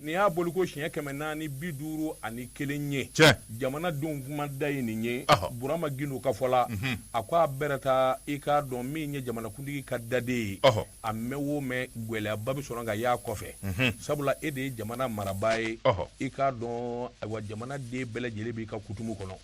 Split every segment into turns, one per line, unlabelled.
nin y'a boli ko siɲɛ kɛmɛ naani bi duuru ani kelen ye jamana denw kuma da ye nin ye burama gindo ka fɔ la mhm. a ko a bɛrɛ taa i k'a dɔn min ye jamanakuntigi ka daden ye a mɛn o mɛn gɛlɛyaba bɛ sɔrɔ ka y'a kɔfɛ mhm. sabula e de ye jamana marabaa ye i k'a dɔn ayiwa jamanaden bɛɛ lajɛlen b'i ka kutumu kɔnɔ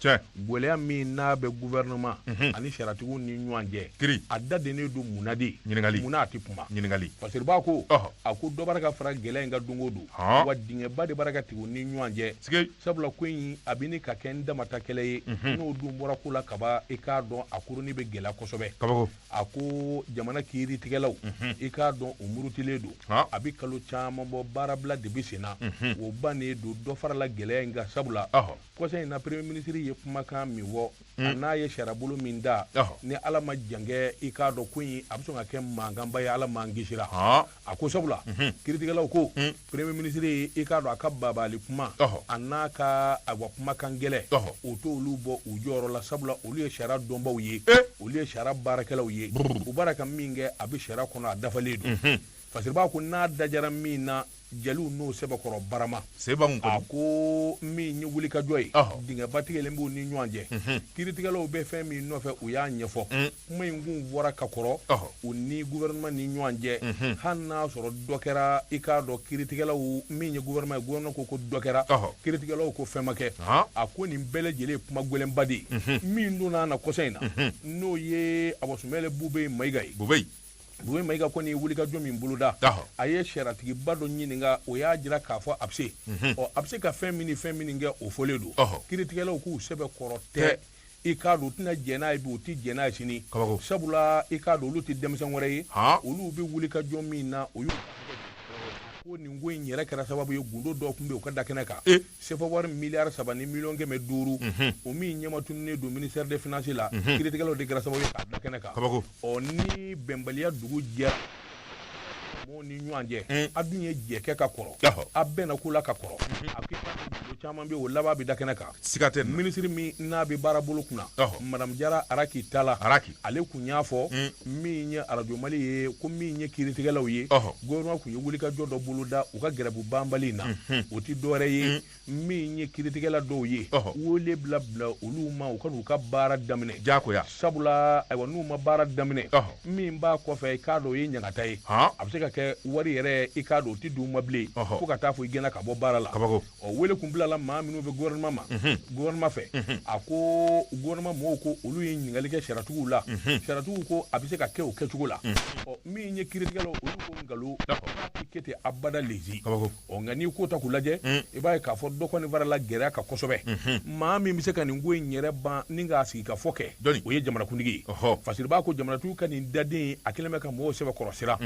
gɛlɛya min n'a bɛ gouvernement mhm. ani sariyatigiw ni ɲɔgɔn cɛ kiri a da dennen don mun na de ɲininkali mun na a tɛ kuma ɲininkali parce que b'a ko a ko dɔ b'a ka fara gɛlɛya in kan don o don wa dingɛba de b'a ka tigɛ u ni ɲɔgɔn cɛ sabula ko in a bɛ ni ka kɛ n damata kɛlɛ ye mhm. n'o dun bɔra ko la kaba i k'a dɔn a kuruni bɛ gɛlɛya kosɛbɛ kabako a ko jamana kiiritigɛlaw mhm. i k'a dɔn u murutilen don a bɛ kalo caman bɔ baarabila de bɛ sen na o bannen don dɔ farala gɛlɛya in kan sabula kɔsa in na premier ministre ye kumakan min fɔ mm. a n'a ye sariyabolo min da ni ala ma jankɛ i k'a dɔn ko in a bɛ sɔn ka kɛ mankanba ye ala m'an kisira a ko sabula mhm. kiritigɛlaw ko mm. premier ministre ye i k'a dɔn a ka bagabagali kuma a n'a ka awa kumakan gɛlɛn o t'olu bɔ u jɔyɔrɔ la sabula olu ye sariya dɔnbaaw ye eh. olu ye sariya baarakɛlaw ye u b'a la ka min kɛ a bɛ sariya kɔnɔ a dafalen don mhm. fasiribaa ko n'a dajara min na jeliw n'o sɛbɛkɔrɔ barama seba kun a ko min ye wulikajɔ ye dingɛba tigɛlen b'u ni ɲɔgɔn cɛ mhm. kiritigɛlaw bɛ fɛn min nɔfɛ u y'a ɲɛfɔ mm. kuma in kun bɔra ka kɔrɔ u ni gouvernement ni ɲɔgɔn cɛ mhm. hali n'a sɔrɔ dɔ kɛra i k'a dɔn kiritigɛlaw min ye gouvernement ye gouvernement ko ko dɔ kɛra kiritigɛlaw ko fɛn ma kɛ a ko nin bɛɛ lajɛlen ye kuma gɛlɛnba de ye mhm. min donna na kɔsa in na n'o ye abɔsumɛlɛ bube mayiga ye Bube Mayiga kɔni ye wulikajɔ min boloda, ɔhɔ, a ye sariyatigiba dɔ ɲininka o y'a jira k'a fɔ a bɛ se, unhun, ɔ a bɛ se ka fɛn min ni fɛn minnu kɛ o fɔlen don, ɔhɔ, kiritigɛlaw k'u sɛbɛ kɔrɔ tɛ, i k'a dɔn u tɛna jɛn n'a ye bi u tɛ jɛn n'a ye sini, kabako, sabula i k'a dɔn olu tɛ denmisɛn wɛrɛ ye, han, olu bɛ wulikajɔ min na o y'u ko nin ko in yɛrɛ kɛra sababu ye gundo dɔ tun bɛ yen o ka da kɛnɛ kan, ee sefa wari miliyari saba ni miliyɔn kɛmɛ duuru o min ɲɛmatununnen don ministère des finances la kiritigɛlaw de kɛra sababu ye k'a da kɛnɛ kan ɔ ni bɛnbaliya dugu jɛra mɔgɔw ni ɲɔgɔn cɛ a dun ye jɛ kɛ ka kɔrɔ a bɛnna ko la ka kɔrɔ a ko caman bɛ o laban bɛ da kɛnɛ kan siga tɛ ministre min n'a bɛ baarabolo kunna madamu jara araki tala ale kun y'a fɔ hmm. min ye arajo mali ye ko min ye kiritigɛlaw ye gouvernement kun ye wulikajɔ dɔ boloda u ka gɛrɛbu banbali in na hmm. o tɛ dɔwɛrɛ ye hmm. min ye kiritigɛla dɔw ye wele bila bila olu ma u ka n'u ka baara daminɛ jakoya sabula ayiwa n'u ma baara daminɛ min b'a kɔfɛ i k'a dɔn o ye ɲangata ye a bɛ se ka kɛ wari yɛrɛ i k'a dɔn o tɛ d'u ma bilen fo ka taa fo i gɛnna ka bɔ baara la ɔ wele kun bilala maa minnu bɛɛ ma gouvernement fɛ a ko gouvernement mɔgɔw ko olu ye ɲininkali kɛ sariyatigiw la sariyatigiw ko a bɛ se ka kɛ o kɛcogo la ɔ min ye kiiritigɛlaw olu ko nkalon a tɛ kɛ ten abada lezi ɔ nka n'i kow ta k'u lajɛ i b'a ye k'a fɔ dɔ kɔni farala gɛlɛya kan kosɛbɛ maa min bɛ se ka nin ko in yɛrɛ ban ni k'a sigi ka fɔ kɛ o ye jamanakuntigi ye Fasiriba ko jamanatigi ka nin dade a kɛlen bɛ ka mɔgɔw sɛbɛkɔrɔ siran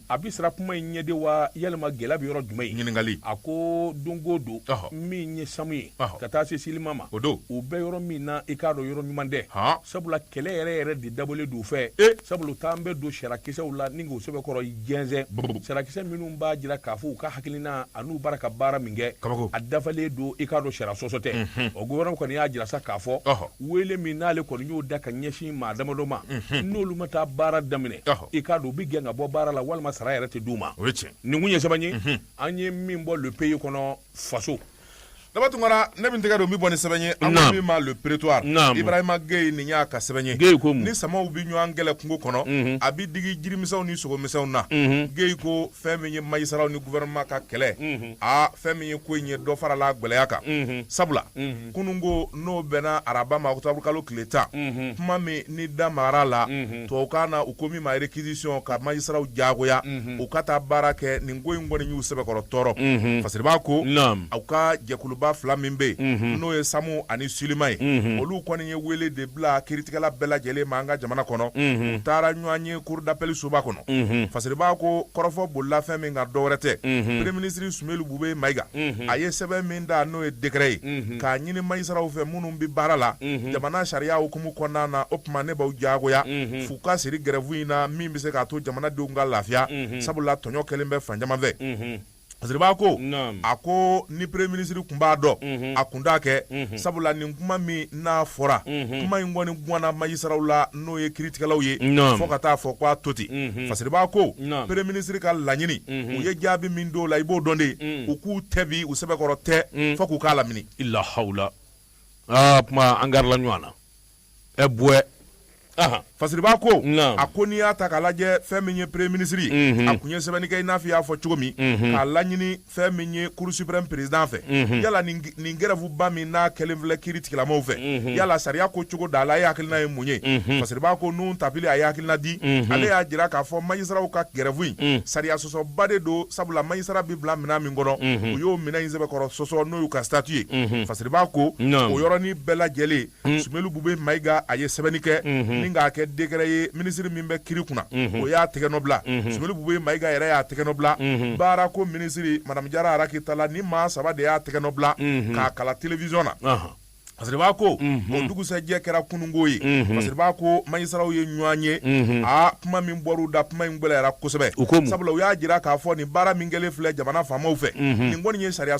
a bɛ siran kuma in ɲɛ de wa yalima gɛlɛya bɛ yɔrɔ jumɛn ye ɲininkali a ko donko don min ye Samu ye ka taa se Silima ma o don u bɛ yɔrɔ min na i k'a dɔn yɔrɔ ɲuman tɛ sabula kɛlɛ yɛrɛ yɛrɛ de dabɔlen don fɛ sabula taa an bɛ don sariyakisɛw la ni k'o sɛbɛkɔrɔ jɛnsɛn sariyakisɛ minnu b'a jira k'a fɔ u ka hakilina an'u bara ka baara min kɛ a dafalen don i k'a dɔn sariya sɔsɔ tɛ o gouvernement kɔni y'a jira sa k'a fɔ wele min n'ale kɔni y'o da ka ɲɛsin maa damadɔ ma n'olu ma taa baara daminɛ i k'a dɔn u bɛ gɛn ka bɔ baara la walima sara yɛrɛ tɛ d'u ma nin kun ye sɛbɛn ye an ye min bɔ le pays kɔnɔ faso Daba
Tunkara ne bɛ tɛgɛ don min bɔ ni sɛbɛn ye an ko min ma le prétoire Ibrahima Gueye nin y'a ka sɛbɛn ye Gueye ko mun ni samaw bɛ ɲɔgɔn kɛlɛ kungo kɔnɔ a bɛ digi jirimisɛnw ni sogomisɛnw na Gueye ko fɛn min ye magistratw ni gouvernement ka kɛlɛ aa fɛn min ye ko in ye dɔ farala gɛlɛya kan sabula kunun ko n'o bɛnna araba ma octobre kalo tile tan kuma min n'i da magara a la tubabukan na u ko min ma réquisition ka magistratw diyagoya u ka taa baara kɛ nin ko in kɔni y'u sɛbɛkɔrɔ tɔɔrɔ Fasiriba ko u ka jɛkuluba fila min bɛ yen n'o ye Samu ani Silima ye olu kɔni ye wele de bila kiiritigɛla bɛɛ lajɛlen ma an ka jamana kɔnɔ u taara ɲɔgɔn ye cour d'appel soba kɔnɔ Fasiriba ko kɔrɔfɔ bolila fɛn min kan dɔwɛrɛ tɛ premier ministre Boubèye Maïga a ye sɛbɛn min da n'o ye décret ye k'a ɲini magistratw fɛ minnu bɛ baara la jamana sariya hukumu kɔnɔna na o tuma ne b'a jagoya f'u ka siri grève in na min bɛ se k'a to jamanadenw ka lafiya sabula tɔɲɔ kɛlen bɛ fan caman fɛ Fasiriba ko a ko ni premier ministre kun b'a dɔn a kun t'a kɛ sabula nin kuma min n'a fɔra kuma in kɔni ganna magistratw la n'o ye kiiritigɛlaw ye fo ka taa fɔ k'a to ten Fasiriba ko premier ministre ka laɲini u ye jaabi min d'o la i b'o dɔn de u k'u tɛ bi u sɛbɛkɔrɔ tɛ fo k'u k'a lamini i lahala
aa tuma an garila ɲɔgɔn na ɛ bonya
Fasiriba ko a ko n'i y'a ta k'a lajɛ fɛn min ye premier ministre ye a kun ye sɛbɛnni kɛ i n'a fɔ i y'a fɔ cogo min k'a laɲini fɛn min ye cour suprême président fɛ mhm. yala nin grève ba min n'a kɛlen filɛ kiiri tigilamaw fɛ mhm. yala sariya ko cogo d'a la e hakilina ye mun ye mhm. Fasiriba ko Nouhoum Tapily a ye hakilina di ale y'a jira k'a fɔ magistratw ka grève in sariya sɔsɔba de don sabula magistrat bɛ bila minɛn min kɔnɔ u y'o minɛn in sɛbɛkɔrɔ sɔsɔ n'o y'u ka statut ye Fasiriba ko o yɔrɔnin bɛɛ lajɛlen Mm. Sumeyilu Bube Mayiga a ye sɛbɛnni kɛ mm-hmm. ni k'a kɛ décret ye minisiri min bɛ kiri kunna mm-hmm. o y'a tɛgɛnɔ bila mm-hmm. Sumeyilu Bube Mayiga yɛrɛ y'a tɛgɛnɔ bila baarako minisiri Madame Jara Raki Tala nin maa saba de y'a tɛgɛnɔ bila k'a kalan télévision na uh-huh. Fasiriba ko o mhm. dugusɛjɛ kɛra kununko ye mhm. Fasiriba ko magistraw ye ɲɔgɔn ye mhm. a kuma min bɔr'u da kuma in gɛlɛyara kosɛbɛ sabula u y'a jira k'a fɔ nin baara min kɛlen filɛ jamana faamaw fɛ nin kɔni ye sariya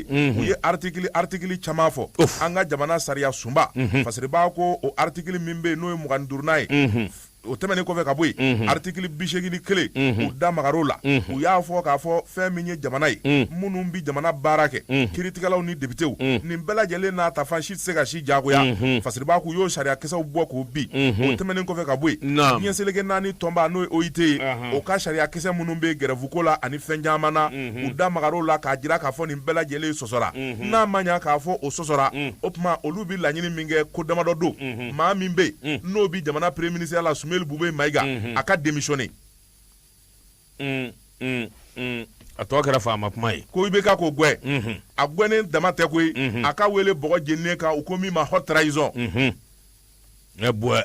u ye aritikili caman fɔ an ka jamana sariya sunba Fasiriba ko o aritikili min bɛ yen n'o ye mugan ni duurunan ye o tɛmɛnen kɔfɛ ka bɔ yen aritikili bi segin ni kelen u da magar'o la u y'a fɔ k'a fɔ fɛn min ye jamana ye minnu bɛ jamana baara kɛ kiiritigɛlaw ni depitew nin bɛɛ lajɛlen n'a ta fan si tɛ se ka si jagoya Fasiriba k'u y'o sariyakisɛw bɔ k'o bin o tɛmɛnen kɔfɛ ka bɔ yen diɲɛ seleke naani tɔnba n'o ye OIT ye o ka sariyakisɛ minnu bɛ grève ko la ani fɛn caman na u da magar'o la k'a jira k'a fɔ nin bɛɛ lajɛlen sɔsɔra n'a ma ɲa k'a fɔ o sɔsɔra o tuma olu bi laɲini min kɛ ko damadɔ don maa min bɛ yen n'o bi jamana premier ministreya la Sumeyilu Bube Mayiga a ka démissionner
a tɔ kɛra faama kuma ye ko IBK k'o
gɛn a gɛnnen dama tɛ koyi a ka wele bɔgɔ jeninen kan u ko min ma haute trahison ne
bɔɛ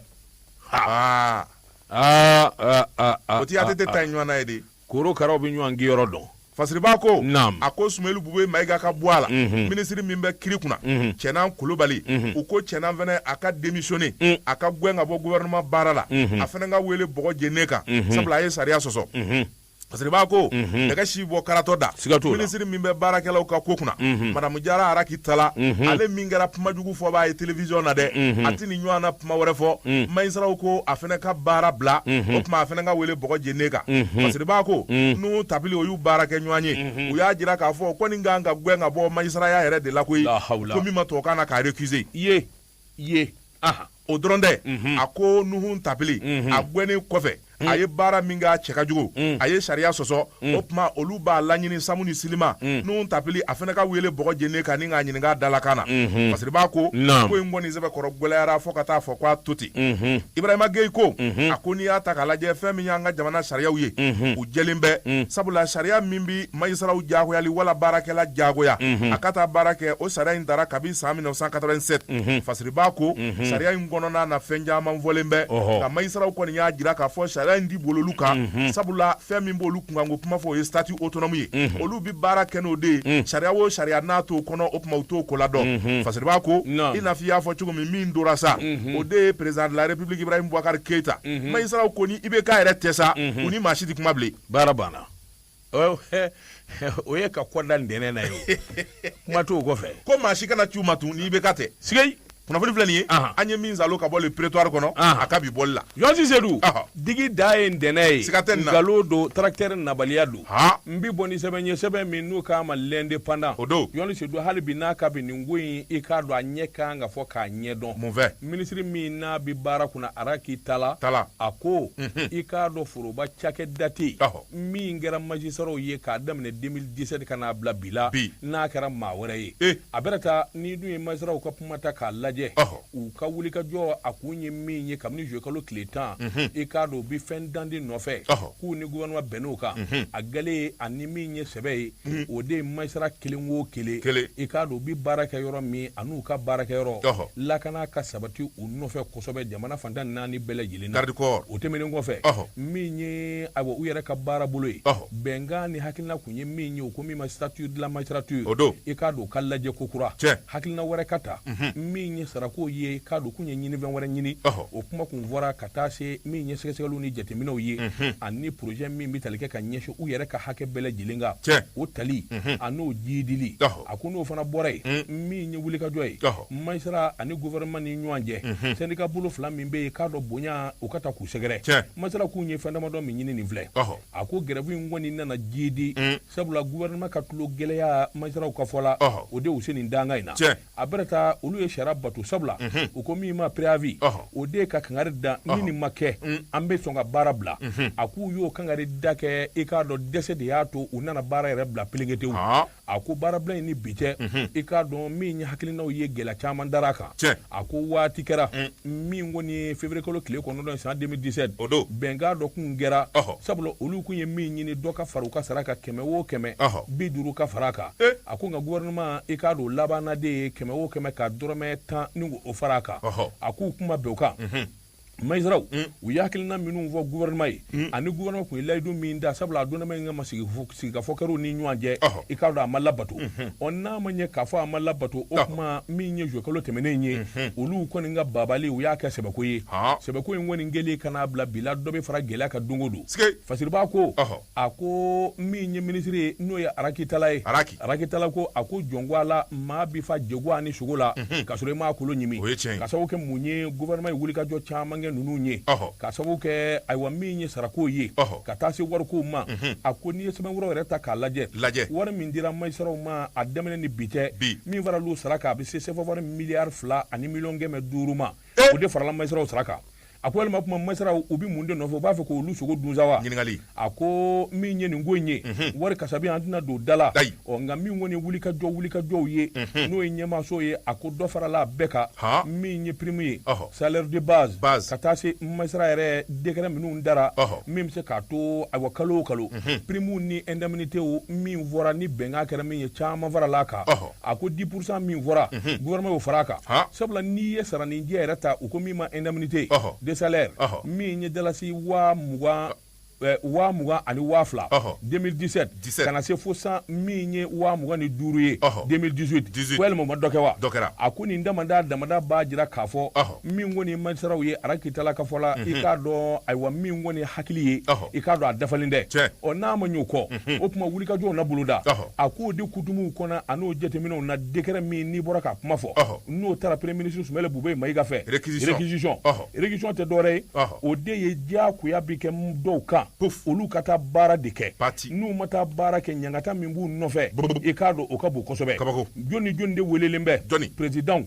aa aa o ti ATT ta in ɲɔgɔnna ye de Korokaraw bɛ ɲɔgɔn
kinyɔrɔ dɔn Fasiriba
ko a ko Sumeyilu Bube Mayiga ka bɔ a la minisiri min bɛ kiri kunna Cɛnan Kulubali u ko Cɛnan fɛnɛ a ka démissionner a ka gɛn ka bɔ gouvernement baara la a fɛnɛ ka wele bɔgɔ jeninen kan sabula a ye sariya sɔsɔ Fasiriba ko dɛgɛ si bɔ karatɔ da sika to minisiri min bɛ baarakɛlaw ka ko kunna Madame Jara Raki Tala ale min kɛra kumajugu fɔbaa ye télévision na dɛ a tɛ nin ɲɔgɔnna kuma wɛrɛ fɔ magistraw ko a fɛnɛ ka baara bila o tuma a fɛnɛ ka wele bɔgɔ jeninen kan Fasiriba ko Nuhun Tapili o y'u baarakɛɲɔgɔn ye u y'a jira k'a fɔ ko nin ka kan ka gɛn ka bɔ magistraya yɛrɛ de la koyi ko min ma tubabukan na k'a récuser o dɔrɔn tɛ a ko Nuhun Tapili a gɛnnen kɔfɛ a ye baara min kɛ a cɛ ka jugu mm. a ye sariya sɔsɔ mm. o tuma olu b'a laɲini SAM ni SYLIMA mm. Nuhun Tapili a fɛnɛ ka wele bɔgɔ jeninen kan ni k'a ɲininka dalakan na mm-hmm. Fasiriba ko ko in kɔni sɛbɛkɔrɔ gwɛlɛyara fo ka taa fɔ k'a to ten mm-hmm. Ibrahima Geyi ko mm-hmm. a ko n'i y'a ta k'a lajɛ fɛn min y'an ka jamana sariyaw ye u jɛlen bɛ sabula sariya min bi magistraw jagoyali wala baarakɛla jagoya a ka taa baara kɛ o sariya in tara kabi san 1987 Fasiriba ko sariya in kɔnɔna na fɛn caman fɔlen bɛ nka magistraw kɔni y'a jira k'a fɔ sariya in ti bol'olu kan sabula fɛn min b'olu kunkanko kuma fɔ o ye statut autonome ye olu bɛ baara kɛ n'o de ye sariya o sariya n'a t'o kɔnɔ o tuma u t'o kola dɔn Fasiriba ko i n'a fɔ i y'a fɔ cogo min min tora sa o de ye président de la république Ibrahim Bubakari Keyita magistraw ko ni IBK yɛrɛ tɛ sa u ni maa si tɛ kuma bilen baara banna
o ye ka kɔda ntɛnɛn na ye kuma t'o kɔfɛ ko maa si kana ci
ma tun ni IBK tɛ sigi kunnafoni filɛ
nin ye
an ye min salo ka bɔ Le Prétoire kɔnɔ a ka bi bɔli la yɔrɔsi sedu
digi da ye ntɛnɛn ye siga tɛ nkalon don
tarakitɛri
nabaliya don n bɛ bɔ ni sɛbɛn ye sɛbɛn min n'u k'a ma L'Indépendant o don yɔrɔni
sedu hali bi
n'a ka bi nin ko in i k'a dɔn a ɲɛ kan ka fɔ k'a ɲɛ dɔn mun fɛ minisiri min
n'a
bɛ baara kunna Araki Tala a ko i k'a dɔn foroba cakɛda tɛ min kɛra majisaraw ye k'a daminɛ 2017 ka n'a bila bi la n'a kɛra maa wɛrɛ ye eh. a bɛrɛ taa n'i dun ye majisaraw ka kuma ta k'a lajɛ u ka wulikajɔ a kun ye min ye kabini juye kalo tile tan mhm. i k'a dɔn u bɛ fɛn dandi nɔfɛ k'u ni gouvernement bɛnn'o kan mhm. a galen ani min ye sɛbɛ ye mhm. o de ye majisara kelen o kelen i k'a dɔn u bɛ baara kɛ yɔrɔ min an'u ka baara kɛ yɔrɔ lakana ka sabati u nɔfɛ kosɛbɛ jamana fan tan naani bɛɛ lajɛlen garikɔ o tɛmɛnen kɔfɛ min ye ayiwa u yɛrɛ ka baara bolo ye bɛnkan ni hakilina kun ye min ye o ko min ma statut de la magistrature o don i k'a dɔn u ka lajɛ kokura cɛ hakilina wɛrɛ ka ta min ye sarako ye k'a dɔn kun ye ɲinifɛn wɛrɛ ɲini o kuma kun fɔra ka taa se min ye sɛgɛsɛgɛli ni jateminɛw ye ani projet min bɛ tali kɛ ka ɲɛsin u yɛrɛ ka hakɛ bɛɛ lajɛlen kan o tali an'o jiidili a ko n'o fana bɔra yen min ye wulikajɔ ye majisara ani gouvernement ni ɲɔgɔn cɛ mhm. syndicat bolo fila min bɛ yen k'a dɔn bonya u ka taa k'u sɛgɛrɛ majisara k'u ye fɛn damadɔ min ɲini nin filɛ a ko grève in kɔni nana jiidi mm. sabula gouvernement ka tulo gɛlɛya majisaraw ka fɔ la o de y'u se nin danga in na a bɛrɛ taa olu ye sariya bato sabula mhm. u ko min ma préavis o de ye ka kangari da ni nin ma kɛ mm. an bɛ sɔn ka baara bila mhm. a k'u y'o kangari da kɛ i k'a dɔn dɛsɛ de y'a to u nana baara yɛrɛ bila pelengetew a ko baarabila in ni bi cɛ i k'a dɔn min ye hakilinaw ye gɛlɛya caman dara a kan a ko waati kɛra min kɔni ye février kalo tile kɔnɔntɔn san 2017 o don bɛnkan dɔ kun kɛra sabula olu kun ye min ɲini dɔ ka fara u ka sara kan kɛmɛ o kɛmɛ bi duuru ka fara a kan a ko nka gouvernement i k'a dɔn labanna de ye kɛmɛ o kɛmɛ ka dɔrɔmɛ tan ni o fara a kan a k'u kun ma bɛn o kan majisaraw u ye hakilina minnu fɔ gouvernement ye ani gouvernement kun ye layidu min ta sabula a donnama in kama sigikafɔ kɛr'u ni ɲɔgɔn cɛ i k'a dɔn a ma labato ɔ n'a ma ɲɛ k'a fɔ a ma labato o kuma min ye juye kalo tɛmɛnen ye olu kɔni ka babali u y'a kɛ sɛbɛko ye sɛbɛko in kɔni kɛlen ka n'a bila bi la dɔ bɛ fara gɛlɛya kan don o don fasiriba ko a ko min ye minisiri ye n'o ye Araki Tala ye Araki. Araki Tala ko a ko jɔn ko Ala maa bi fa jɛgɛ ani sogo la k'a sɔrɔ i m'a kolo ɲimi O ye tiɲɛ ye. k'a sababu kɛ mun ye gouvernement ye wulikajɔ caman kɛ ninnu ye Ɔhɔ. k'a sababu kɛ ayiwa min ye sarako ye Ɔhɔ. ka taa se warikow ma a ko n'i ye sɛbɛnfuraw yɛrɛ ta k'a lajɛ Lajɛ. wari min dira majisaraw ma a daminɛ ni bi cɛ Bi. min faral'u sara kan a bɛ se sɛfawari miliyari fila ani miliyɔn kɛmɛ duuru ma Eh! O de farala magistratw sara kan. A ko walima o tuma magistratw u bɛ mun de nɔfɛ u b'a fɛ k'olu sogo dun sa wa? Ɲininkali. A ko min ye nin ko in ye. Unhun. Wari kasabi an tɛna don da la. Ayi. Ɔ nka min kɔni ye wulikajɔ wulikajɔw ye. Unhun. N'o ye ɲɛmaaso ye a ko dɔ farala a bɛɛ kan. Han. Min ye prime ye. Ɔhɔ. Salaire de base. Base. Ka taa se magistrat yɛrɛ décret minnu dara. Ɔhɔ. Min bɛ se k'a to ayiwa kalo o kalo. Unhun. Prime ni indemnitéw min fɔra ni bɛnkan kɛra min ye caman farala a kan. Ɔhɔ. a ko dix pour cent min fɔra mhm. gouvernement y'o fara a kan sabula n'i ye saranijɛ yɛrɛ ta u ko min ma indemnité de salaire min ye dalasi waa mugan eh, waa mugan ani waa fila 2017 ka na se fo san min ye waa mugan ni duuru ye 2018 walima ma dɔ kɛ wa a ko nin damada damada b'a jira k'a fɔ min kɔni magistratw ye raki tala ka fɔ la i k'a dɔn ayiwa min kɔni hakili ye i k'a dɔn a dafalen dɛ ɔ n'a ma y'o kɔ o tuma wulikajɔw na boloda a k'o di kutumuw kɔnɔ a n'o jateminɛw na décret min n'i bɔra k'a kuma fɔ n'o taara premier ministre sumeyili bube mayiga fɛ réquisition réquisition tɛ dɔwɛrɛ ye o de ye diyagoya bɛ kɛ dɔw kan ko olu ka taa baara de kɛ pati n'u ma taa baara kɛ ɲangata min b'u nɔfɛ i k'a dɔn o ka bon kosɛbɛ kaba jɔn ni jɔn de welelen bɛ dɔnni présidentw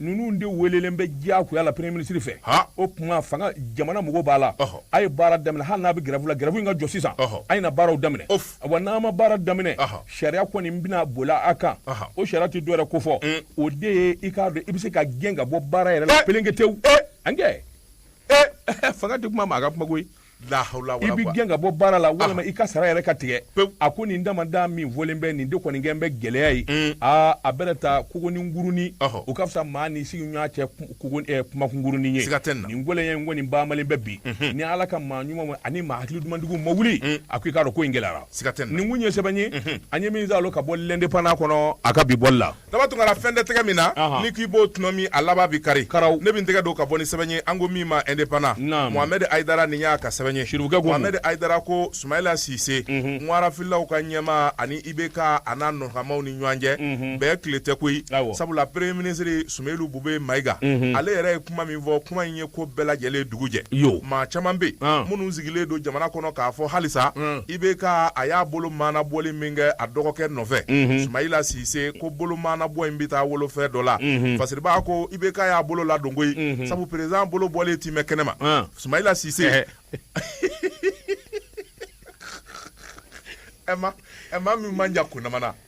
ninnu de welelen bɛ diyagoya la premier ministre fɛ o tuma fanga jamana mɔgɔw b'a la a ye baara daminɛ hali n'a bɛ grève la grève in ka jɔ sisan a ye na baaraw daminɛ wa n'a ma baara daminɛ sariya kɔni bɛna boli a kan o sariya tɛ dɔwɛrɛ ko fɔ mm. o de ye i k'a dɔn i bɛ se ka gɛn ka bɔ baara yɛrɛ la eh! pelenketewu eh! an kɛ eh! fanga tɛ kuma maa ka kuma koyi lahala i bɛ gɛn ka bɔ baara la walima i ka sara yɛrɛ ka tigɛ a ko nin damada min fɔlen bɛ nin de kɔni kɛlen bɛ gɛlɛya ye mm. aa a bɛ taa kogoninkurunin o ka fisa maa ni sigiɲɔgɔn cɛ eh, kumakunkurunin ye nin gɛlɛya in kɔni baamalen bɛ bi mhm. ni ala ka maa ɲuman ani maa hakili dumantigiw ma wuli mm. a ko i k'a dɔn ko in gɛlɛyara nin kun ye sɛbɛn ye mhm. an ye min salo ka bɔ l'indépendant kɔnɔ a ka bi bɔli la daba tun kala fɛn tɛ
tɛgɛ min na ni k'i b'o tuma min a laban bi kari karaw ne bɛ n tɛgɛ don ka bɔ ni sɛbɛn ye an ko min ma indépendant mohamɛdi ayidara nin y'a ka sɛbɛn ye siribukɛ ko mohamɛdi ayidara ko sumayila sise ŋwarafilaw ka ɲɛmaa ani IBK a n'a nɔkanmaaw ni ɲɔgɔn cɛ bɛɛ tile tɛ koyi sabula premier ministre sumeyili bube mayiga ale yɛrɛ ye kuma min fɔ kuma in ye ko bɛɛ lajɛlen dugu jɛ yo maa caman bɛ yen minnu sigilen don jamana kɔnɔ k'a fɔ halisa IBK a y'a bolo maana bɔli min kɛ a dɔgɔkɛ nɔfɛ sumayila sise ko bolo maana bɔ in bɛ taa wolofɛ dɔ la fasiribaa ko IBK y'a bolo ladon koyi sabu président bolo bɔlen ti mɛn kɛnɛ ma sumayila sise ɛ ma min man jan kunamana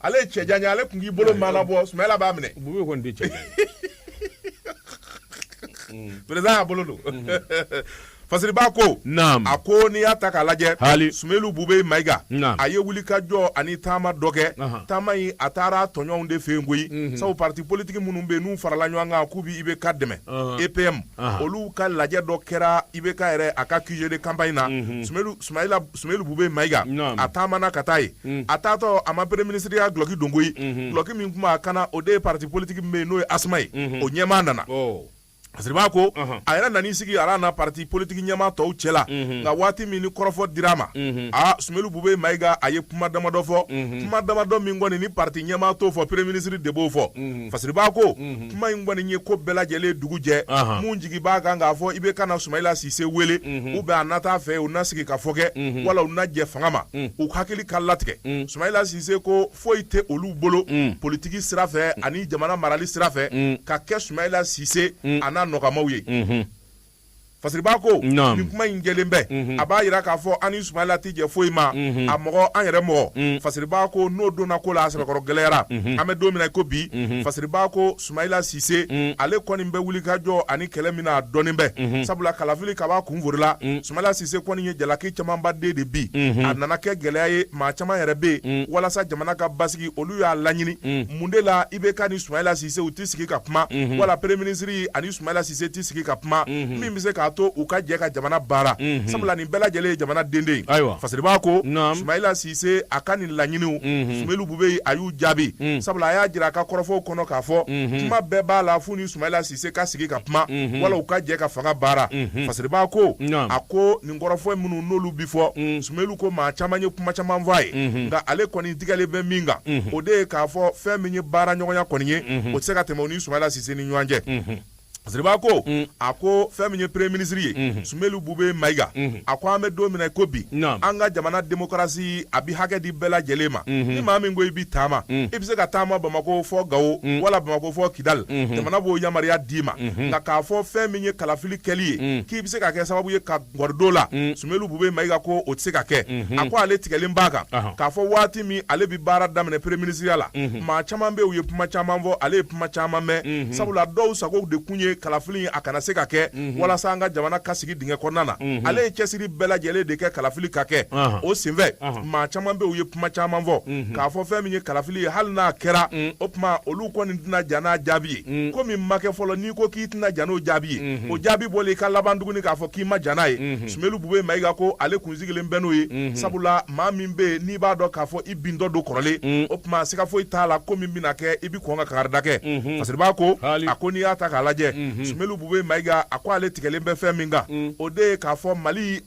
ale ye cɛ jan ye ale tun k'i bolo mana bɔ sumayila b'a minɛ bube kɔni di cɛ perezidan y'a bolo don fasiriba ko a ko n'i y'a ta k'a lajɛ sumeyilu bube mayiga a ye wuli ka jɔ ani taama dɔ kɛ taama in a taara tɔɲɔgɔnw de fɛ yen koyi sabu pati politigi minnu bɛ n'u farala ɲɔgɔn kan k'u bɛ IBK dɛmɛ EPM olu ka lajɛ dɔ kɛra IBK yɛrɛ a ka QG de campagne na Soumayili Bube Mayiga, naamu, a taamana ka taa yen, unhun, a taatɔ a ma premier ministre ya dulɔki don koyi, unhun, dulɔki min tun b'a kan na o de ye parti politique min bɛ yen n'o ye ASMA ye, unhun, o ɲɛmaa nana. Ɔ. Fasiriba ko Ɔnhɔn. a yɛrɛ nan'i sigi ala na parti politique ɲɛmaa tɔw cɛla Unhun. nka waati min ni kɔrɔfɔ dir'a ma Unhun. aa Soumayili Bube Mayiga a ye kuma damadɔ fɔ Unhun. kuma damadɔ min kɔni ni parti ɲɛmaa t'o fɔ premier ministre de b'o fɔ Unhun. Fasiriba ko Unhun. kuma in kɔni ye ko bɛɛ lajɛlen dugu jɛ minnu jigi b'a kan k'a fɔ IBK na sumayila sise wele ou bien a na taa a fɛ u na sigi ka fɔ kɛ wala u na jɛ fanga ma u hakili ka latigɛ sumayila sise ko foyi tɛ olu bolo politigi sira fɛ ani jamana marali sira fɛ ka kɛ sumayila sise a n'a nɔkanmaaw ye Fasiriba ko ni kuma in jɛlen bɛ a b'a jira k'a fɔ an ni sumayila tɛ jɛ foyi ma a mɔgɔ an yɛrɛ mɔgɔ fasiriba ko n'o donna ko la a sɛbɛkɔrɔ gɛlɛyara an bɛ don min na ko bi fasiriba ko sumayila sise ale kɔni bɛ wuli ka jɔ ani kɛlɛ min na a dɔnnen bɛ sabula kalafili kab'a kunfɔlɔ la sumayila sise kɔni ye jalaki camanba den de bin a nana kɛ gɛlɛya ye maa caman yɛrɛ bɛ yen walasa jamana ka basigi olu y'a laɲini mun de la IBK ni sumayila sise u tɛ sigi ka kuma wala premier ministre Sumayila Sise t'i sigi ka kuma unhun min bɛ se k'a to u ka jɛ ka jamana baara unhun sabula nin bɛɛ lajɛlen ye jamana den de ye ayiwa Fasiriba ko naam Sumayila Sise a ka nin laɲiniw unhun Sumeyili Bube a y'u jaabi un sabula a y'a jira a ka kɔrɔfɔw kɔnɔ k'a fɔ unhun kuma bɛɛ b'a la f'u ni Sumayila Sise ka sigi ka kuma unhun wala u ka jɛ ka fanga baara unhun Fasiriba ko naam a ko nin kɔrɔfɔ minnu n'olu bi fɔ un Sumeyili ko maa caman ye kuma caman fɔ a ye unhun nka ale kɔni tigɛlen bɛ min kan unhun o de ye k'a fɔ fɛn min ye baaraɲɔgɔnya kɔni ye unhun o tɛ se ka tɛmɛ u ni sumayila sise ni ɲɔgɔn cɛ fasiriba ko a ko fɛn min ye premier ministre ye sumeyilu bube mayiga a ko an bɛ don min ko bi an ka jamana demokarasi a bɛ hakɛ di bɛɛ lajɛlen ma ni maa min ko i bɛ taama i bɛ se ka taama bamakɔ fɔ gawo wala bamakɔ fɔ kidali jamana b'o yamaruya d'i ma nka k'a fɔ fɛn min ye kalafili kɛli ye k'i bɛ se ka kɛ sababu ye gɔri don a la sumeyilu bube mayiga ko o tɛ se ka kɛ a ko ale tigɛlen b'a kan k'a fɔ waati min ale bɛ baara daminɛ premier ministre ya la maa caman bɛ u ye kuma caman fɔ ale ye kuma caman mɛn sabula dɔw sago de tun ye kalafili a kana se ka kɛ walasa an ka jamana ka sigi dingɛ kɔnɔna na ale ye cɛsiri bɛɛ lajɛlen de kɛ kalafili ka kɛ o senfɛ maa caman bɛ u ye kuma caman fɔ k'a fɔ fɛn min ye kalafili ye hali n'a kɛra o tuma olu kɔni tɛna jɛn n'a jaabi ye ko min ma kɛ fɔlɔ n'i ko k'i tɛna jɛn n'o jaabi ye o jaabi bɔlen i ka laban tuguni k'a fɔ k'i ma jɛn n'a ye sumeyilu bubɛyi mayiga ko ale kun sigilen bɛ n'o ye sabula maa min bɛ yen n'i b'a dɔn k'a fɔ i bintɔ don kɔrɔlen o tuma siga foyi t'a la ko min bɛna kɛ i bɛ kɔn ka karida kɛ fasiriba ko a ko n'i y'a ta k'a lajɛ sumeyilu bubɛyi mayiga a ko ale tigɛlen bɛ fɛn min kan o de ye k'a fɔ mali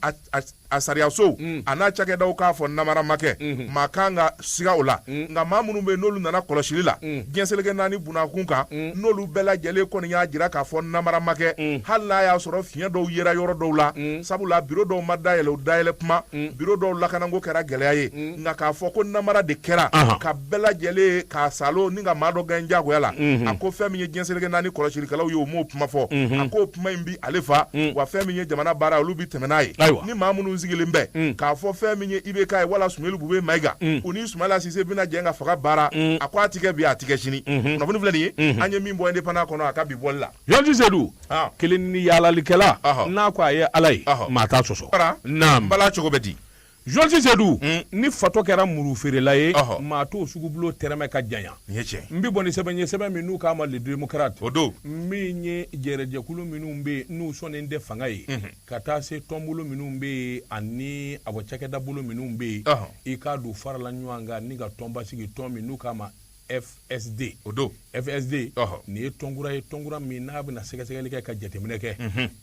a sariyasow mm. a n'a cakɛdaw k'a fɔ namara ma kɛ mm-hmm. maa man kan ka siga o la mm. nka maa minnu bɛ yen n'olu nana kɔlɔsili la mm. diɲɛseleke naani bunakun kan n'olu bɛɛ lajɛlen kɔni y'a jira k'a fɔ namara ma kɛ hali n'a y'a sɔrɔ fiɲɛ dɔw yera yɔrɔ dɔw la sabula biro dɔw ma dayɛlɛ o dayɛlɛ kuma biro dɔw lakanako kɛra gɛlɛya ye nka k'a fɔ ko namara de kɛra ka bɛɛ lajɛlen k'a salo ni ka maa dɔ gɛn jagoya la mm-hmm. a ko fɛn min ye diɲɛseleke naani kɔlɔsilikɛlaw ye o m'o kuma fɔ mm-hmm. a ko kuma in bi ale fa mm. wa fɛn min ye jamana baara olu bi tɛmɛ n'a ye ni maa minnu sigilen bɛ mm. k'a fɔ fɛn min ye IBK ye wala sumeyilu bubɛyi mayiga mm. u ni sumayila sise bɛna jɛ ka fanga baara a ko a tɛ kɛ bi a tɛ kɛ sini mm-hmm. kunnafoni filɛ nin ye mm-hmm. an ye min bɔ indépendant kɔnɔ a ka bi bɔli la Georges Seydou
ah. kelen ni yaalalikɛla n'a ko a ye ala ye maa t'a sɔsɔ naam bala cogo
bɛ di Georges
Seydou mm. ni fatɔ kɛra muru feerela ye oh. maa t'o sugubulo tɛrɛmɛ ka janya n bɛ bɔ ni sɛbɛn ye sɛbɛn min n'u k'a ma le démocrate o don min
ye
jɛrɛjɛkulu minnu bɛ yen n'u sɔnnen tɛ fanga ye mm-hmm. ka taa se tɔnbolo minnu bɛ yen ani awɔ cakɛdabolo minnu bɛ yen i k'a dɔn u farala ɲɔgɔn kan ni ka tɔnba sigi tɔn min n'u k'a ma FSD o don FSD nin ye tɔnkura ye tɔnkura min n'a bɛna sɛgɛsɛgɛli kɛ ka jateminɛ kɛ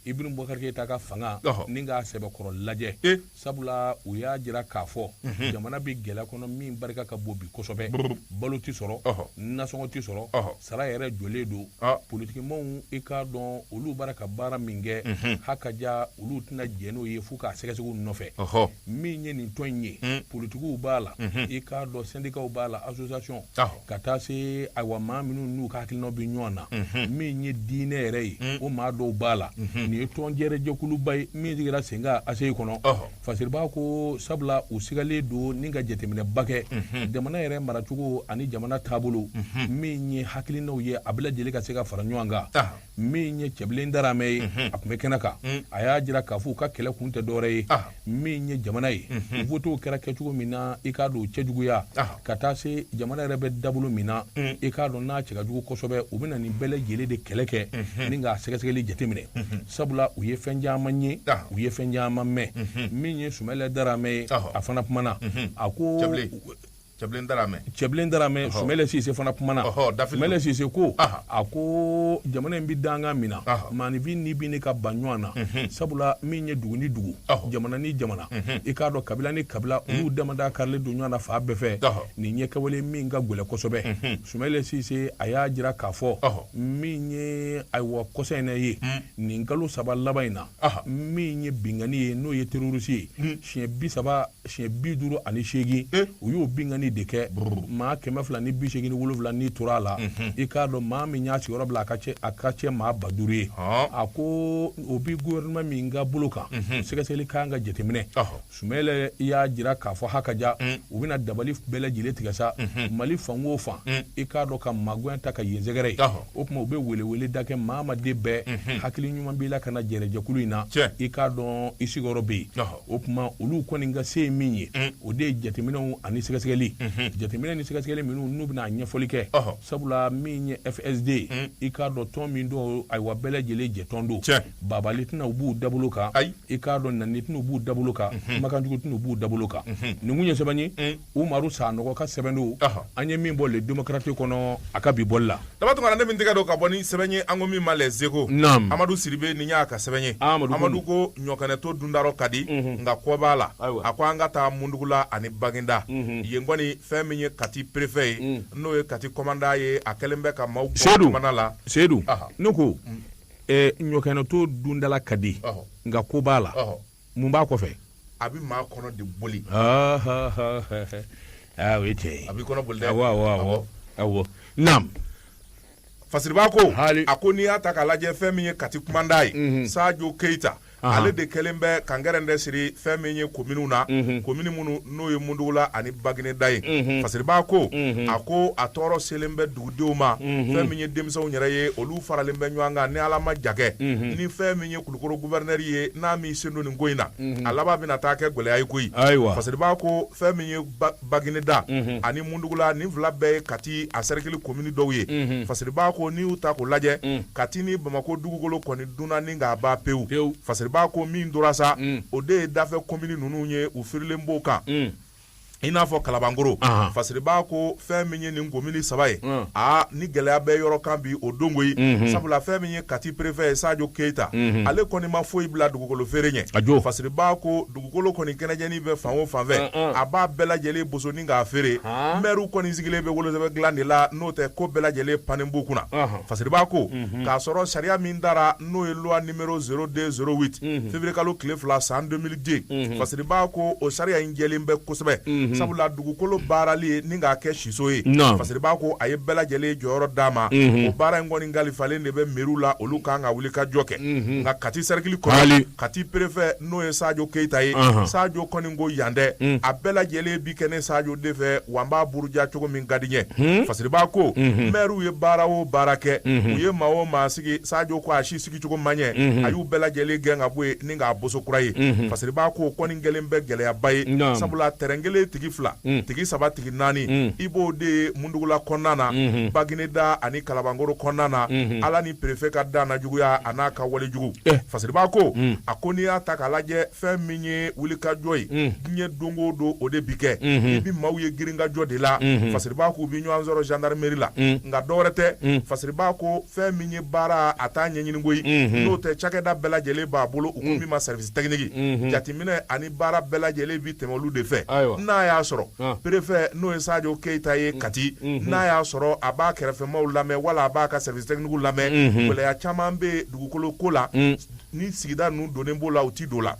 Ibrahim Boubacar Keita ka fanga ni k'a sɛbɛkɔrɔ lajɛ sabula u y'a jira k'a fɔ jamana bɛ gɛlɛya kɔnɔ min barika ka bon bi kosɛbɛ balo tɛ sɔrɔ nasɔngɔ tɛ sɔrɔ sara yɛrɛ jɔlen don politikimaaw i k'a dɔn olu bara ka baara min kɛ hakaja olu tɛna jɛn n'o ye fo k'a sɛgɛsɛgɛ u nɔfɛ. min ye nin tɔn in ye hmm. politikiw b'a la hmm. i k'a dɔn sendikaw b'a la association ka taa se ayiwa maa minnu n'u ka hakilinaw bɛ ɲɔgɔn na hmm. min ye diinɛ yɛrɛ ye o maa dɔw b'a la nin ye tɔn jɛrɛjɛkuluba ye min sigira sen kan aseyi kɔnɔ fasiriba ko sabula u sigalen don ni ka jateminɛba kɛ jamana yɛrɛ maracogo ani jamana taabolo min ye hakilinaw ye a bɛɛ lajɛlen ka se ka fara ɲɔgɔn kan min ye cɛbilen daramɛ ye mhm. a tun bɛ kɛnɛ kan mhm. a y'a jira k'a fɔ u ka kɛlɛ kun tɛ dɔwɛrɛ ye ah. min ye jamana ye mhm. votew kɛra kɛcogo min na i k'a dɔn cɛjuguya ah. ka taa se jamana yɛrɛ bɛ dabolo min na mm. i k'a dɔn n'a cɛ ka jugu kosɛbɛ u bɛna nin bɛɛ lajɛlen de kɛlɛ kɛ ni k'a sɛgɛsɛgɛli jateminɛ sabula u ye fɛn caman ye ah. u ye fɛn caman mɛn min ye sumɛlɛ daramɛ ye a fana kumana a ko
cɛbilen daramɛ cɛbilen daramɛ sumayila sise
fana kumana sumayila sise ko a ko jamana in bi danga min na maanifin ni bi ni ka ban ɲɔgɔn na mhm. sabula min ye dugu ni dugu jamana ni jamana mhm. i k'a dɔn kabila ni kabila mhm. olu damada karilen don ɲɔgɔn na fan bɛɛ fɛ nin ye kɛwale min ka gwɛlɛ kosɛbɛ sumayila sise a y'a jira k'a fɔ min ye ayiwa kɔsa in ye mm. nin kalo saba laban in na min ye binkanni ye n'o ye terorisi ye siɲɛ bi saba siɲɛ bi duuru ani seegin eh. u y'o binkanni de kɛ maa kɛmɛ fila ni bi seegin ni wolonfila ni tora a la mhm. i k'a dɔn maa min y'a sigiyɔrɔ bila a ka ca a ka ca maa ba duuru ye a ko o bi gouvernement min ka bolo kan mhm. sɛgɛsɛgɛli kan ka jateminɛ sumayila y'a jira k'a fɔ ha ka ja mm. u bɛna dabali bɛɛ lajɛlen tigɛ sa mhm. mali fan o fan mm. i k'a dɔn ka magoya ta ka yen sɛgɛrɛ ye o tuma u bɛ weleweleda kɛ maa ma den bɛɛ hakili ɲuman b'i la ka na jɛrɛjɛkulu in na i k'a dɔn i sigiyɔrɔ bɛ yen o tuma olu kɔni ka se ye min ye o de ye jateminɛw ani sɛgɛsɛgɛli jateminɛ ni sɛgɛsɛgɛli minnu n'u bɛna ɲɛfɔli kɛ sabula min ye fsd ye i k'a dɔn tɔn min don ayiwa bɛɛ lajɛlen jɛtɔn don baabaali tɛna u b'u dabolo kan i k'a dɔn nani tɛna u b'u dabolo kan kumakanjugu tɛna u b'u dabolo kan nin kun ye sɛbɛn ye umaru sanɔgɔ ka sɛbɛn don an ye min bɔ le démocrate kɔnɔ a ka bi bɔli la daba tuma ne min tɛgɛ
don ka bɔ ni sɛbɛn ye an ko min ma les échos amadu sidibe nin y'a ka sɛbɛn ye amadu ko ɲɔkɛnɛto dun da rɔ ka di nka kɔ b'a la a ko an ka taa mundugula ani bagineda yen kɔni fɛn min ye kati préfet ye n'o ye kati kɔmanda ye a kɛlen bɛ ka maaw sedu la seyidu ne ko
ɲɔkɛnɛto dun da la ka di nka kɔ b'a la mun b'a kɔfɛ a bɛ maa
kɔnɔ de boli
ah, ah, ah, ah o ye tiɲɛ ye a b'i kɔnɔ boli dɛ awɔ
awɔ awɔ awɔ
naam
fasiriba ko Hali. a ko n'i y'a ta k'a lajɛ fɛn min ye kati kumanda ye mhm. sajo keyita Aha. ale de kɛlen bɛ ka gɛrɛntɛ siri fɛn min ye kominiw na mhm. komini minnu n'o ye mundugula ani bagineda ye mhm. fasiriba ko a ko a tɔɔrɔ selen bɛ dugudenw ma fɛn min ye denmisɛnw yɛrɛ ye olu faralen bɛ ɲɔgɔn kan ni ala ma jagɛ ni fɛn min ye kulukɔrɔ gouverneur ye n'a m'i sen don nin ko in na, unhun, a laban bɛna taa kɛ gɛlɛya ye koyi, ayiwa, fasiriba ko fɛn min ye Bagineda ani Mundugula nin fila bɛɛ ye Kati a cercle commune dɔw ye, unhun, fasiriba ko n'i y'u ta k'u lajɛ, un, Kati ni Bamakɔ dugukolo kɔni dunna ni k'a ban pewu, pewu, fasiriba ko min tora sa, un, o de ye dafɛ commune ninnu ye u firilen b'o kan, un. i n'a fɔ kalabankɔrɔ fasiriba ko fɛn min ye nin komini saba ye aa ni gɛlɛya bɛ yɔrɔ kan bi o don koyi sabula fɛn min ye kati préfet ye sajo keyita ale kɔni ma foyi bila dugukolo feere ɲɛ a jo fasiriba ko dugukolo kɔni kɛnɛjɛnin bɛ fan o fan fɛ a b'a bɛɛ lajɛlen boso ni k'a feere mɛriw kɔni sigilen bɛ wolosɛbɛn dilan de la n'o tɛ ko bɛɛ lajɛlen pannen b'u kunna fasiriba ko k'a sɔrɔ sariya min tara n'o ye février kalo tile fila san deux mille dix fasiriba ko o sariya in jɛlen bɛ kosɛbɛ sabula dugukolo baarali ye ni k'a kɛ siso ye fasiriba ko a ye bɛɛ lajɛlen jɔyɔrɔ d'a ma o baara in kɔni kalifalen de bɛ mairie la olu kan ka wulikajɔ kɛ nka kati cercle kɔnɔ kati préfet n'o ye sajo keyita ye sajo kɔni ko yan tɛ a bɛɛ lajɛlen bi kɛ ne sajo de fɛ wa n b'a buruja cogo min ka di n ye fasiriba ko maire ye baara o baara kɛ u ye maa o maa sigi sajo ko sigicogo man ɲɛ unhun a y'u bɛɛ lajɛlen gɛn ka bɔ yen ni k'a boso kura ye unhun Fasiriba ko kɔni kɛlen bɛ gɛlɛyaba ye naam sabula terrain kelen tigi fila un tigi saba tigi naani un i b'o de ye Mundugula kɔnɔna na unhun Bagineda ani Kalabankoro kɔnɔna na unhun Ala ni préfet ka dannajuguya an'a ka wale jugu eh Fasiriba ko un a ko n'i y'a ta k'a lajɛ fɛn min ye wulikajɔ ye un diɲɛ don o don o de bi kɛ unhun i bi maaw ye girinkajɔ de la unhun Fasiriba k'u bi ɲɔgɔn sɔrɔ gendarmerie la un nka dɔ wɛrɛ tɛ un Fasiriba ko fɛn min ye baara a t'a ɲɛɲini koyi n'o tɛ cakɛda bɛɛ lajɛlen b'a bolo u ko min ma service technique jateminɛ ani baara bɛɛ lajɛlen bɛ tɛmɛ olu de fɛ n'a y'a sɔrɔ préfet n'o ye sajo keyita ye kati n'a y'a sɔrɔ a b'a kɛrɛfɛmaw lamɛn wala a b'a ka service technique lamɛn gɛlɛya caman bɛ dugukolo ko la ni sigida ninnu donnen b'o la u tɛ don la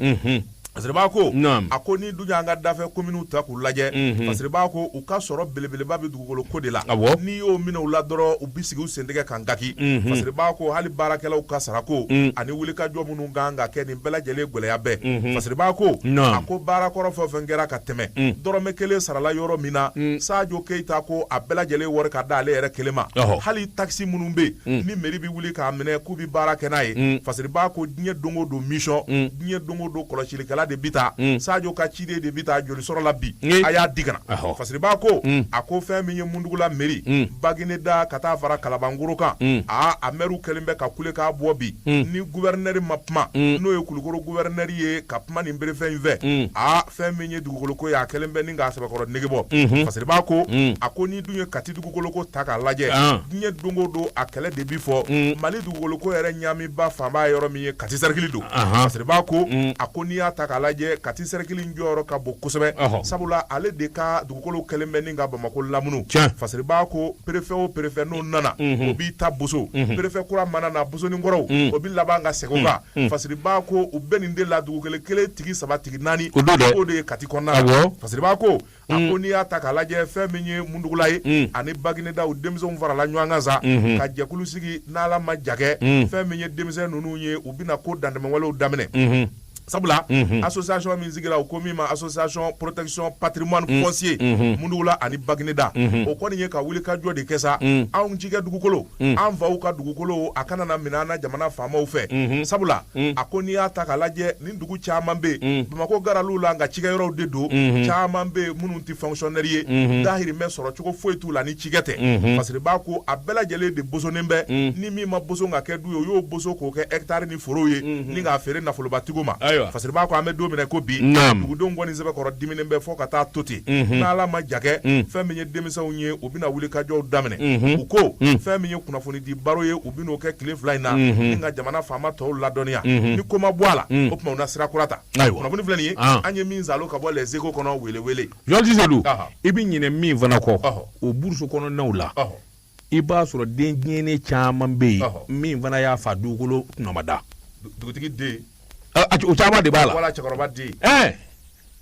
Fasiriba ko a ko ni dun y'an ka dafɛ kominiw ta k'u lajɛ fasiriba ko u ka sɔrɔ belebeleba bɛ dugukolo ko de la n'i y'o minɛ u la dɔrɔn u bɛ sigi u sentɛgɛ kan gaki fasiriba ko hali baarakɛlaw ka sarako ani wulikajɔ minnu kan ka kɛ nin bɛɛ lajɛlen gɛlɛya bɛɛ fasiriba ko a ko baara kɔrɔ fɛn o fɛn kɛra ka tɛmɛ dɔrɔmɛ kelen sarala yɔrɔ min na sajo keyita ko a bɛɛ lajɛlen wari ka d'ale yɛrɛ kelen ma hali taxe minnu bɛ yen ni mairie bɛ wuli k'a minɛ k'u bɛ baara kɛ n'a ye fasiriba ko diɲɛ don o don mission diɲɛ don o don kɔlɔsilikɛla de bi taa mm. sajo ka ciden de bi taa joli sɔrɔla bi a y'a di ka na fasiriba ko mm. a ko fɛn min ye mundugula mairie mm. bagineda ka taa fara kalabangoro kan aa a mɛriw kɛlen bɛ ka kule k'a bɔ bi ni gouverneur ma kuma n'o ye kulukoro gouverneur ye ka kuma ni préfet in fɛ aa fɛn min ye dugukoloko ye a kɛlen bɛ ni k'a sɛbɛkɔrɔ negebɔ mm-hmm. fasiriba ko a ko ni dun ye kati dugukoloko ta k'a lajɛ ah. diɲɛ don o don a kɛlɛ de bi fɔ mali dugukoloko yɛrɛ ɲaamiba fanba yɔrɔ min ye kati cercle don fasiriba ko mm. a ko n'i y'a ta k'a lajɛ kati cercle jɔyɔrɔ ka bon kosɛbɛ sabula ale de ka dugukolo kɛlen bɛ ni ka bamakɔ lamunu fasiriba ko préfet o préfet n'o nana mm-hmm. o b'i ta boso mm-hmm. préfet kura mana na bosonin kɔrɔw mm. o bɛ laban ka segin o kan mm. fasiriba ko u bɛ nin de la dugukolo kelen tigi saba tigi naani o de ye kati kɔnɔna fasiriba ko a ko n'i y'a ta k'a lajɛ fɛn min ye mundugula ye mm. ani bagineda u denmisɛnw farala ɲɔgɔn kan sa mm-hmm. ka jɛkulu sigi n'ala ma jakɛ mm. fɛn min ye denmisɛn ninnu ye u bɛna ko dantɛmɛwalew daminɛ mm-hmm. sabula mm-hmm. association min sigira u ko min ma association protection patrimoine mm. foncier mundugula ani bagineda o kɔni ye ka wuli ka jɔ de kɛ sa anw cikɛ dugukolo an faw ka dugukolo a kana na minɛ an na jamana faamaw fɛ sabula a ko n'i y'a ta k'a lajɛ dugu caman bɛ yen bamakɔ gɛrɛ la olu ka cikɛ yɔrɔw de don caman bɛ yen minnu tɛ fonctionnaire ye dahirimɛ sɔrɔ cogo foyi t'u la ni cikɛ tɛ fasiriba ko a bɛɛ lajɛlen de bosonnen bɛ ni min ma boso ka kɛ du ye o y'o boso k'o kɛ hectare ni foro ye ni k'a feere nafolobatigiw ma ayiwa fasiriba ko an bɛ don min i ko bi dugudenw kɔni sɛbɛkɔrɔ diminen bɛ fo ka taa to ten n' ala ma jakɛ fɛn min ye denmisɛnw ye u bɛna wulikajɔw daminɛ u ko fɛn min ye kunnafoni di baro ye n'o kɛ tile fila in na ni ka jamana faama tɔw ladɔnniya ni ko ma bɔ a la o tuma u na sira kura ta kunnafoni filɛ nin ye an ye min sɔrɔ ka bɔ les échos kɔnɔ wele wele yɔrɔdisadu
i bɛ ɲinɛ min fana kɔ o brousse kɔnɔnaw la i b'a sɔrɔ den tiɲɛnen caman bɛ yen min fana y'a fa dugukolo kunmada dugutigi den
o
caman de b'a la wala cɛkɔrɔba den
ɛɛ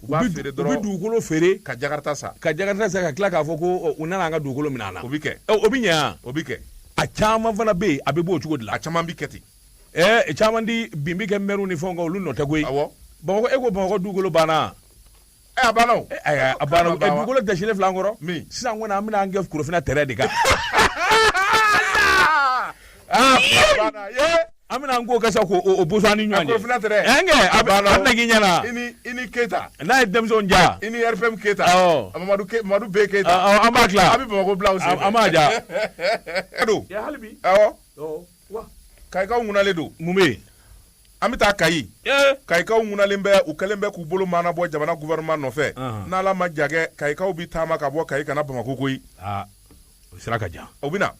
u b'a feere dɔrɔn u bɛ dugukolo feere ka
jakarta san ka
jakarta san ka tila k'a
fɔ ko u nana an ka dugukolo minɛ an na o bɛ kɛ o bɛ ɲɛ
o
bɛ kɛ
a caman
fana bɛ yen a bɛ b'o cogo de la a caman bɛ kɛ
ten ɛɛ caman de bin
bɛ kɛ mɛriw ni fɛnw kan olu nɔ tɛ koyi awɔ bamakɔ e ko bamakɔ dugukolo banna Ɛ a
banna o ɛ ayi a banna o
ɛ dugukolo dɛsɛlen filɛ an kɔrɔ min sisan kɔni an bɛna an kɛ korofina terrain de kan aa banna yee an bɛna an ko kɛ sa k'o boso an ni ɲɔgɔn cɛ korofina terrain ɛ n kɛ a
bɛ a bɛna
k'i ɲɛna i ni i ni
Keyita n'a ye denmisɛnw
ja i ni RPM
Keyita awɔ Mamadu Ke Mamadu B Keyita ɔ ɔ, an b'a tila a
bɛ Bamako bila u sen an fɛ an
b'a ja
don
ɛ hali bi awɔ ɔ wa kayikaw ŋunalen don mun bɛ yen
an bɛ
taa kayi kayikaw ŋunalen bɛ u kɛlen bɛ k'u bolo maanabɔ jamana gouvernement nɔfɛ n'ala ma jakɛ kayikaw bɛ taama ka bɔ kayi ka na bamakɔ koyi o sira
ka jan u bɛ na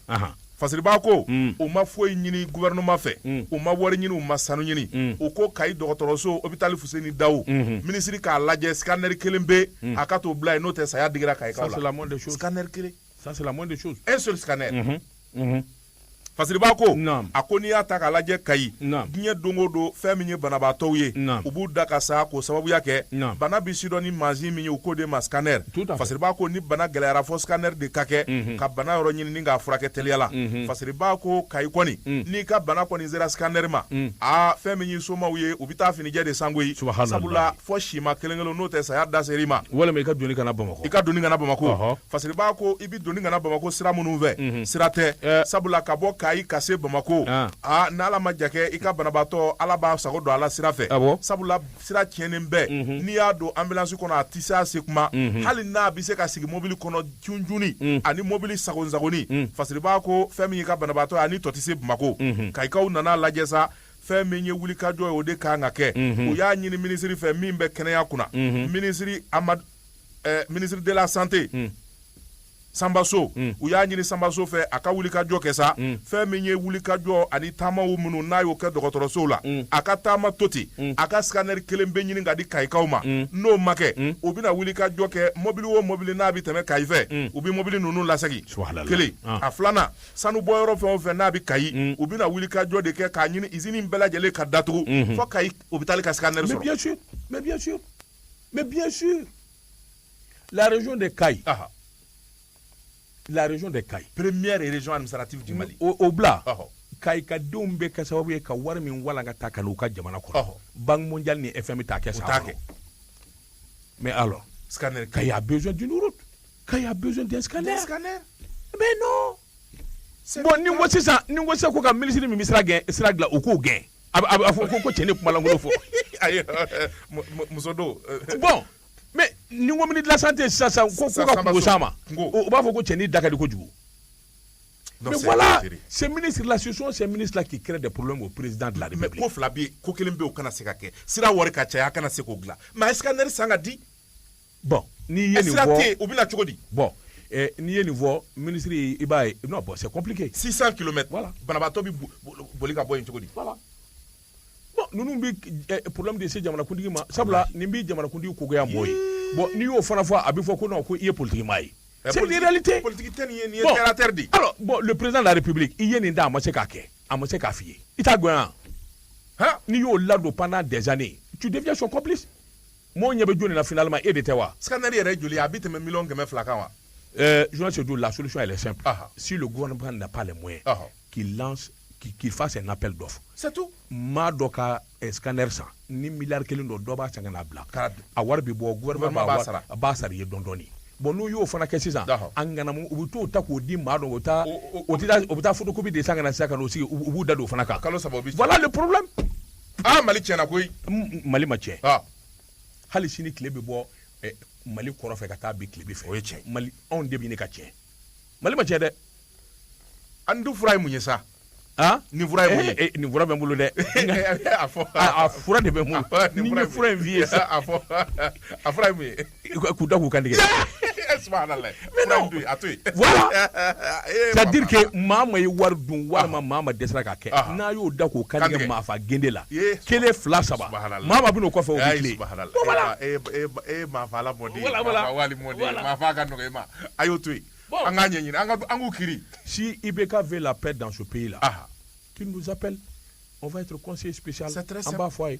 fasiriba ko u ma foyi ɲini gouvernement fɛ u ma wari ɲini u ma sanu ɲini u ko kayi dɔgɔtɔrɔso hôpital Fuseni Dawu minisiri k'a lajɛ scanner kelen bɛ yen a ka t'o bila yen n'o tɛ saya digira kayikaw la scanner kelen ça c'est la moindre des choses
un seul scanner
fasiriba ko a ko n'i y'a ta k'a lajɛ kayi diɲɛ don o don fɛn min ye banabaatɔw ye u b'u da ka sa k'o sababuya kɛ bana bɛ sidɔn ni mansin min ye u k'o de ma scanner fasiriba ko ni bana gɛlɛyara fo scanner de ka kɛ mhm. ka bana yɔrɔ ɲini ni k'a furakɛ teliya la mhm. fasiriba ko kayi kɔni mhm. n'i ka bana kɔni sera scanner ma aa fɛn min y'i somaw ye u bɛ taa finijɛ de san koyi sabula fo sima kelen kelen n'o tɛ saya da ser'i ma walima i ka doni ka na bamakɔ
i ka doni ka na bamakɔ
Parce que i b'a ko i bɛ doni ka na Bamakɔ sira minnu fɛ, unhun, sira tɛ, ɛɛ, sabula ka bɔ Kayi ka se Bamakɔ, an, aa n'Ala ma jan kɛ i ka banabaatɔ Ala b'a sago don a la sira fɛ, awɔ, sabula sira tiɲɛnen bɛɛ, unhun, n'i y'a don ambulance kɔnɔ a tɛ se a se kuma, unhun, hali n'a bɛ se ka sigi mobili kɔnɔ junjunni, un, ani mobili sagonni-sagonni, un, parce que i b'a ko fɛn min y'i ka banabaatɔ ye a ni tɔ tɛ se Bamakɔ, unhun, Kayikaw nan'a lajɛ sa fɛn min ye wulikajɔ ye o de ka kan ka kɛ, unhun, u y'a ɲini minisiri fɛ min bɛ kɛnɛya kunna, unhun, minisiri Amadu eh, ministre de la santé mm. Sanba So mm. u y'a ɲini Sanba So fɛ a ka wulikajɔ kɛ sa mm. fɛn min ye wulikajɔ ani taamaw minnu n'a y'o kɛ dɔgɔtɔrɔsow la mm. a ka taama to ten mm. a ka scanner kelen pe ɲini ka di kayikaw ma mm. n'o ma kɛ mm. u bɛna wulikajɔ kɛ mɔbili o mɔbili n'a bɛ tɛmɛ kayi fɛ mm. u bɛ mɔbili ninnu lasegin kelen ah. a filanan sanu bɔyɔrɔ fɛn o fɛn n'a bɛ kayi mm. u bɛna wulikajɔ de kɛ k'a ɲini izini bɛɛ lajɛlen ka datugu mm -hmm. fɔ kayi hôpital ka scanner sɔrɔ.
Mais bien sûr, la région de Kayes, ah. la région de Kayes, première région administrative
du Mali, o, o bila, ah.
kayikadenw bɛ kɛ sababu ye ka wari min walangata ka n'u ka jamana kɔnɔ banque mondiale ni fmi t'a kɛ sa mais alors scanner Kayes
a besoin
d'une route Kayes a besoin d'un scanner scanner mais non bon ni ko sisan ni ko sisan ko ka minisiri min bɛ sira gɛn sira dilan u k'o gɛn A fɔ ko ko cɛn ni kumalankolon fɔ
muso don bɔn
mɛ ni ko mini dilala tɛ sa sa ko sa ma u b'a fɔ ko cɛnin da ko kojugu sɛ mini sirila su sɛ mini fila k'i kɛlɛ de plen ko pereriz dilan de ko fila bɛ ko kelen
bɛ kana se ka kɛ sira wari ka caya a kana se k'o dilan mɛ a yeka neri san ka di
bon n'i ye nin sira tɛ u bɛ na
cogo di bon
n'i ye nin fɔ minisiri i b'a ye non bon c'est compliqué 600 kilomètres
voilà
banabaatɔ bɛ
boli ka bɔ yen cogo di voilà
bon ninnu bɛ problème de se jamanakuntigi ma sabula nin bɛ jamanakuntigi ko goya mɔɔ ye bon n'i y'o fana fɔ a bɛ fɔ ko non ko i ye politiki maa ye c'est une réalité politiki tɛ nin ye nin ye
terre à terre de ye alors bon le président de
la république i ye nin da a ma se k'a kɛ a ma se k'a f'i ye i t'a gɛn wa n'i y'o ladon pendant des années tu deviens son complice Mɔɔw ɲɛ bɛ jɔni na finalement e de tɛ wa? Scanner yɛrɛ joli a
bɛ tɛmɛ miliyɔn kɛmɛ fila kan wa? Euh, journaliste Sedu,
la solution elle est simple, ɔhɔ, si le gouvernement n'a pas les moyens, ɔhɔ, qu'il lance qu'il fasse un appel d'offres c'est tout maa
dɔ ka
eh, scanner san ni miliyari kelen don dɔ b'a san ka n'a bila a wari bɛ bɔ gouvernement b'a sara a b'a sara i ye dɔɔni dɔɔni bon n'u y'o fana kɛ sisan a ŋanamu u bɛ t'o ta k'o di maa dɔ o taa o bɛ taa photocopie de san ka na sisan ka n'o sigi u b'u da don o fana kan kalo saba o bɛ voilà le
problème
aa
mali tiɲɛna koyi mali ma
tiɲɛ hali sini tile bɛ bɔ eh, mali kɔrɔn fɛ ka taa bin tilebin fɛ o ye tiɲɛ mali anw
de bɛ ɲini ka
tiɲɛ mali ma tiɲɛ dɛ
an dun fura ye mun ye sa nin fura
ye mun ye eh, eh, nin fura bɛ n bolo dɛ a fura de bɛ n bolo ne ye fura in f'i ye sa
a fura ye mun ye k'u da k'u kan
tigɛ
subhanallah mais non to
a to yen voilà c'est à dire que maa min ye wari dun walima maa min dɛsɛra k'a kɛ n'a y'o da k'o kan tigɛ maa fa gende la kelen fila saba maa min bɛ n'o kɔfɛ o bɛ tilen
voilà e maa fa ala mɔden maa fa wali mɔden maa fa ka nɔgɔ e ma a y'o to yen an k'a ɲɛɲini an ka an k'u kiri si IBK
veut la paix dans ce pays là qu'il nous appelle on va être conseiller spécial an b'a fɔ a ye